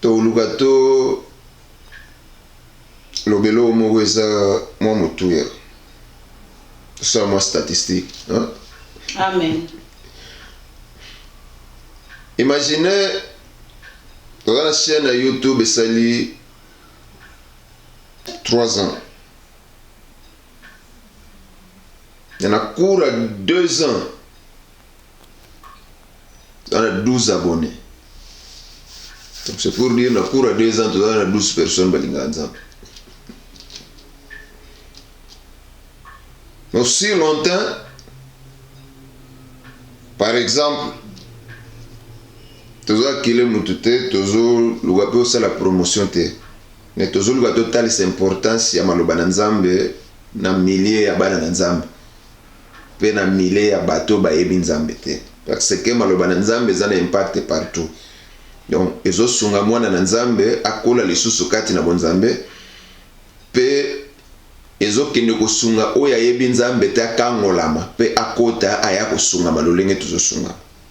Toluka to loba eloko moko eza mwa motuya. Tosala mwa statistique hein. Amen. Imagine oza na chaîne ya YouTube esali 3 ans. Na cours ya 2 ans toza na 12 abonne donc c'est pour dire na cours ya 2 ans toza na 12 personnes balingaka nzambe donc si longtemps par exemple toza kile motu te tozoluka mpe osala promotion te me tozoluka totalisa importance ya maloba na nzambe na milieu ya bana na nzambe pe na milieu ya batu oyo bayebi Nzambe te par ce que maloba na Nzambe eza na impact partout donc ezo sunga mwana na Nzambe akola lisusu kati na bonzambe pe ezo kende ko sunga oyo ayebi Nzambe te akangolama pe akota aya ko sungama lolenge tozo sungama.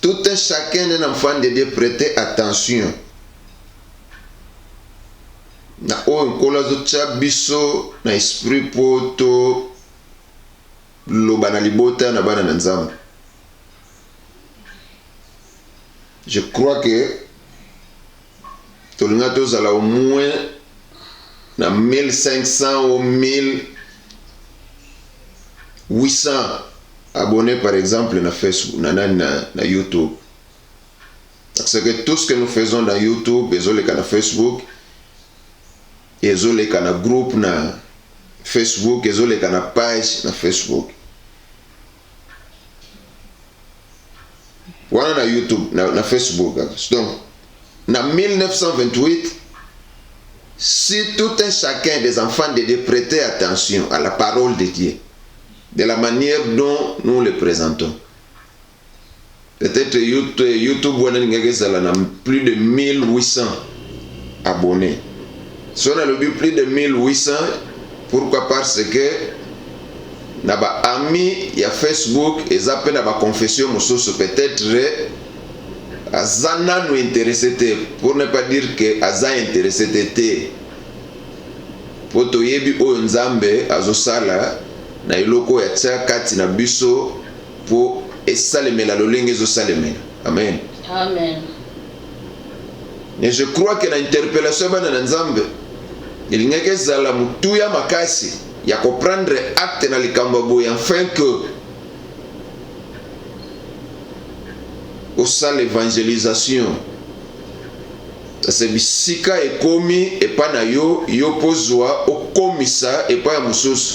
Tout un chacun un enfant de Dieu prete attention na oyo nkolo azotya biso na esprit mpo toloba na libota na bana na nzambe je crois que Tolinga tozala au moins na 1500 ou 1800 abonnes par exemple na Facebook na nani na, na YouTube parce que tout ce que nous faisons dans YouTube ezoleka na Facebook ezoleka na groupe na Facebook ezoleka na page na Facebook wana na youtube na, na facebook donc na 1928 si tout un chacun des enfants de dieu prêtait attention à la parole de dieu de la manière dont nous le présentons Peut etre youtube wana elingaki ezala na plus de 1800 abonnes so nalobi plus de 1800 pourquoi parce que na ba amis ya facebook eza mpe na ba confession mosusu peut etre aza nanu interesse te pour ne pas dire que aza interesse te te mpo toyebi oyo nzambe azosala na eloko ya tia kati na biso Po esalemela lolenge ezo salemela. Amen. Amen. Mais je crois que na interpellation ya bana na Nzambe elingaki ezala motuya makasi ya ko prendre acte na likambo ya boye afin que osala evangelisation kasi bisika ekomi epai na yo yo mpo zwa okomisa epai ya mosusu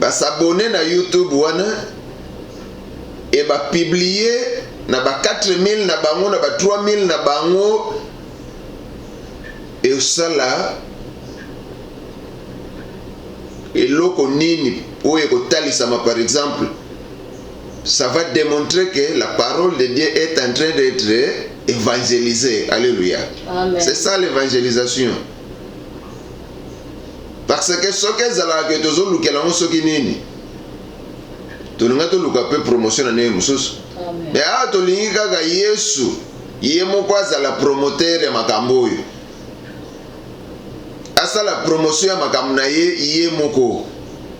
ba s'abonner na YouTube wana et ba publier na ba 4000 na bango na ba 3000 na bango esala eloko nini oyo ekotalisama par exemple ça va démontrer que la parole de Dieu est en train d'être évangélisée. Alléluia. C'est ça l'évangélisation. parce que soki ezalaka ke tozolukela yango soki nini tolinga toluka mpe promotion na ndenge mosusu me awa tolingi kaka yesu ye moko azala promotere ya makambo oyo asala promotion ya makambo na ye ye moko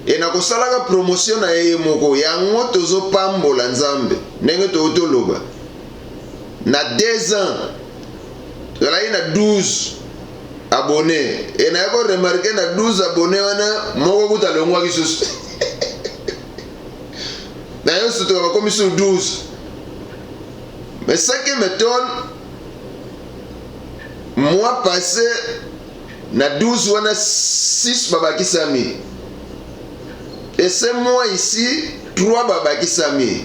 e na kosalaka promotion na ye ye moko yango tozopambola nzambe ndenge touti oloba na deux ans tozalaki na 12 abonne e naye ko remarke na 12 abonne wana moko kuta alongwaki susu na yo sutuka bakomi sur 12 mais ce qui m'étonne mois passé na 12 wana 6 babakisami et ce mois ici 3 babakisami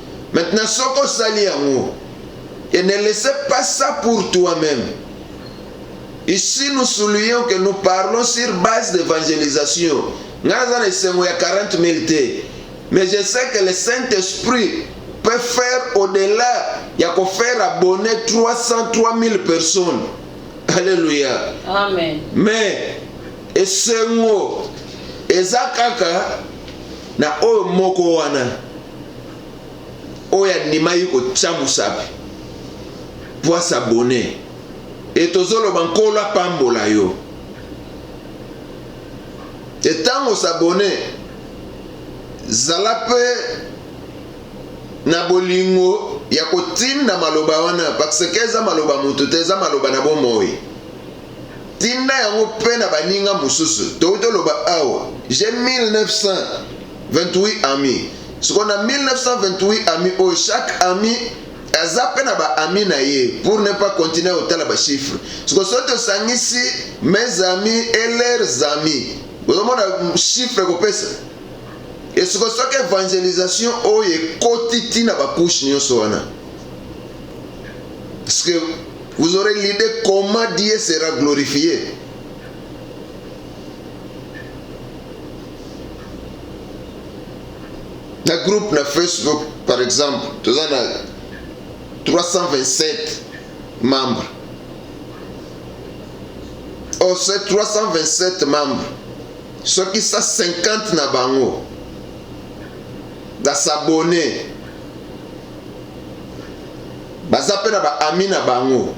Maintenant soki osali yango et ne laisse pas ça pour toi meme. Ici nous soulignons que nous parlons sur base d'evangelisation. Ngai naza na esengo ya 40 000 te. Mais je sais que le Saint-Esprit peut faire au-delà ya ko faire abonner 300 3000 personnes. Alléluia. Amen. Mais esengo eza kaka na oyo moko wana. oyo andimaki kotya mosapi mpo asabone e tozoloba nkolo apambola yo e ntango osabone zala mpe na bolingo ya kotinda maloba wana parseke eza maloba moto te eza maloba na bomoi tinda yango mpe na baninga mosusu touti oloba awa je 1900 28 amis sikoyo na 1928 amis oyo chaque amis aza mpe na ba amis na ye pour ne pas continuer kotala ba chiffres sikoyo soki tosangisi mes amis et leurs amis ozomona chiffre ekopesa esiko soki evangelisation oyo ekoti ti na bakushe nyonso wana parce que vous aurez l'idée comment Dieu sera glorifié na groupe na facebook par exemple toza na 327 membre o 327 membre soki sa 50 na bango basabone baza mpe na baami na bango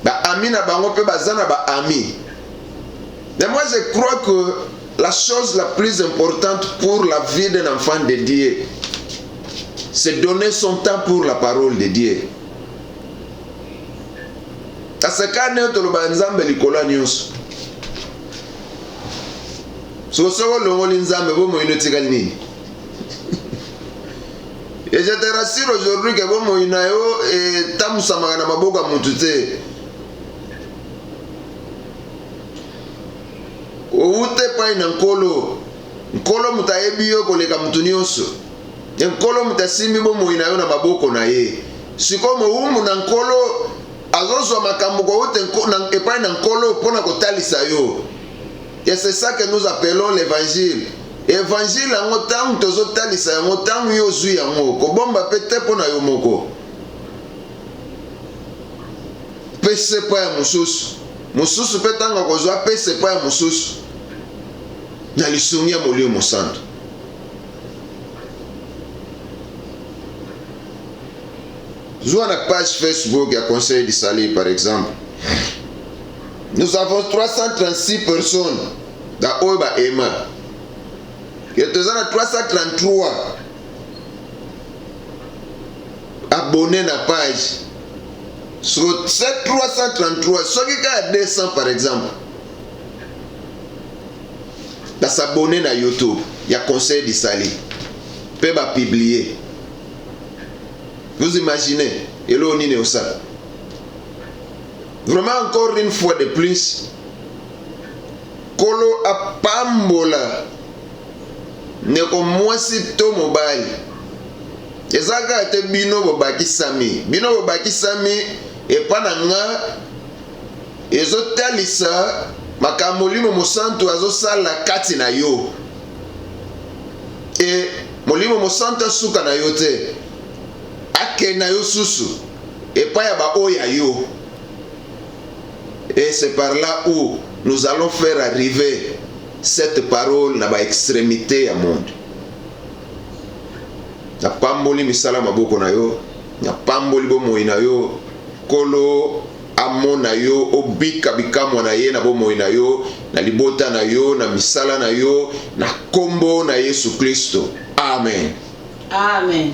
baami na bango mpe baza na baami Mais moi je crois que la chose la plus importante pour la vie d'un enfant de Dieu, c'est donner son temps pour la parole de Dieu. asekani oyo toloba nzambe likolo ya nyonso soki olongoli nzambe bomoi no etikali nini et je te rassure aujourd'hui ke bomoi na yo etambusamaka na maboko ya motu te Owuta epai na Nkolo. Nkolo moto ayebi yo koleka moto nyonso. E Nkolo moto asimbi bomoi na yo na maboko na ye. Sikoyo mowumbu na Nkolo azozwa makambo kowuta epai na Nkolo mpo na kotalisa yo. Et c'est ça que nous appelons l'évangile. Evangile yango ntango tozotalisa yango ntango yo ozwi yango kobomba mpe te mpo na yo moko mpe se mpo ya mosusu mosusu mpe ntango akozwa apesa epai ya mosusu na lisungi ya Molimo Mosantu. Zwa na page Facebook ya Conseil du Salut par exemple. Nous avons 336 personnes da oyo ba ema. Yetu eza na 333 abonne na page so 333 soki kaka 200 par exemple basabone na youtube ya conseil disali mpe bapublie vous imaginez eloo nini osala vraiment encore une fois de plus kolo apambola Ndeko mwasi to mobali, eza kaka te bino bobakisami. Bino bobakisami epa na nga ezotalisa makambo Molimo Mosantu azosala kati na yo. E Molimo Mosantu asuka na yo te, akei na yo susu epai ya baoyo ya yo. Et c'est par là où nous allons faire arriver Cette parole na ba extremite ya monde. Napamboli misala maboko na yo, napamboli bomoi na yo. Nkolo amona yo obika bikamwa na ye na bomoi na yo, na libota na yo, na misala na yo, na nkombo na Yesu Klisto, amen. Amen.